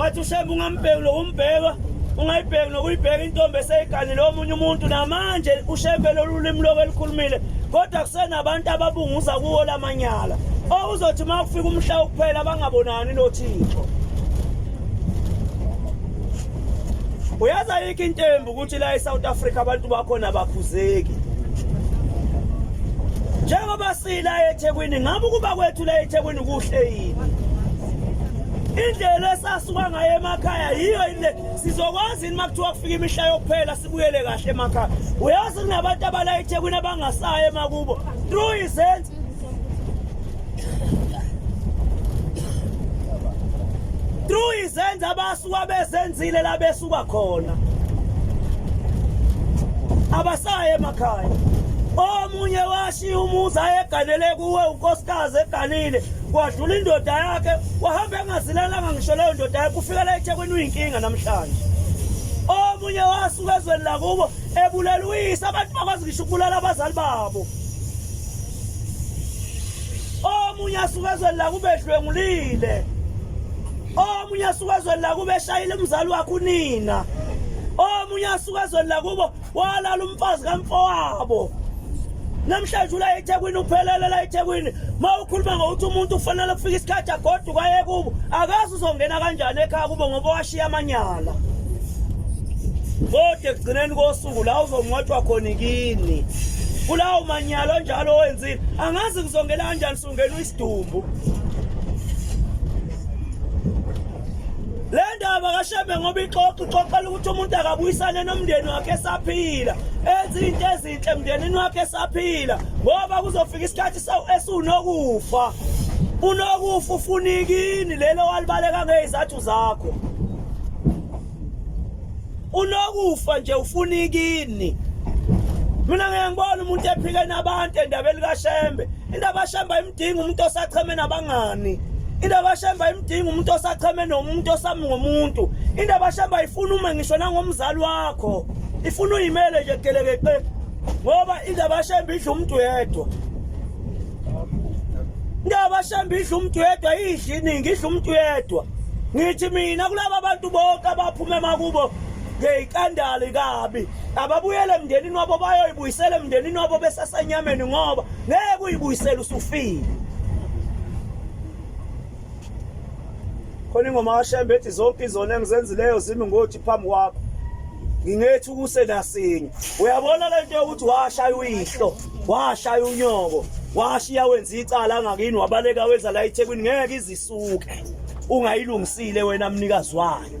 wathi ushembe ungambheki lokumbheka ungayibheki nokuyibheka intombi eseyiganile omunye umuntu namanje ushembe lolu limi loku elikhulumile kodwa kusenabantu ababunguza kuwo la manyala okuzothi uma kufika umhla wokuphela bangabonani nothixo uyazi ayikho intembi ukuthi la e-south africa abantu bakhona abakhuzeki njengoba sila ethekwini ngabe ukuba kwethu la ethekwini kuhle yini indlela esasuka ngayo emakhaya yiyo yini le sizokwazi yini uma kuthiwa kufika imihla yokuphela sibuyele kahle emakhaya uyazi kunabantu abala ethekwini abangasayo emakubo through izenzi through izenzi abasuka bezenzile la besuka khona abasayo emakhaya omunye washiya umuzi ayeganele kuwe unkosikazi eganile Wadlula indoda yakhe wahamba engazilalanga ngisho leyo ndoda yakhe ufikela eThekwini uyinkinga namhlanje. Omunye wasuka ezweni lakubo ebulela uyise abantu bakwazi ngisho ukubulala abazali babo. Omunye asuka ezweni lakubo edlwengulile. Omunye asuka ezweni lakubo eshayile umzali wakhe unina. Omunye asuka ezweni lakubo walala umfazi kamfowabo namhlanje ula eThekwini uphelele la eThekwini mawukhuluma ngokuthi umuntu ufanele kufika isikhathi agodu kwaye kubo akazi uzongena kanjani ekhaya kubo ngoba washiya amanyala kodwa ekugcineni kosuku la uzongcwatshwa khona kini kulawo manyala onjalo owenzile angazi kuzongena kanjani Ungenwe isidumbu. Le ndaba kashembe ngoba ixoxa ixoxela ukuthi umuntu akabuyisane nomndeni wakhe esaphila enze into ezinhle emndenini wakhe esaphila ngoba kuzofika isikhathi esunokufa unokufa ufunikini lelo walibaleka ngezathu zakho unokufa nje ufuna ikini mina ngeke ngibona umuntu ephike nabantu endabeni kashembe indaba kashembe ayimdingi umuntu osacheme nabangani indaba kashembe ayimdingi umuntu osacheme nomuntu osami ngomuntu indaba kashembe ayifuna ume ngisho nangomzali wakho ifuna uyimele nje geleke ngoba indaba kashembe idla umuntu yedwa Ndabashamba idla umuntu wedwa idla iningi idla umuntu wedwa. Ngithi mina kulaba bantu bonke abaphume makubo ngeyikandali kabi. Ababuyele emndenini wabo bayoyibuyisela emndenini wabo besasenyameni ngoba ngeke uyibuyisele usufile. Khona ingoma kaShembe ethi zonke izona engizenzileyo zimi ngothi phambi kwakho. Ngingethi ukuse nasinye. Uyabona lento yokuthi washaya uyihlo. washaya unyoko washiya wenza icala angakini wabaleka weza la eThekwini ngeke izisuke ungayilungisile wena mnikazi wayo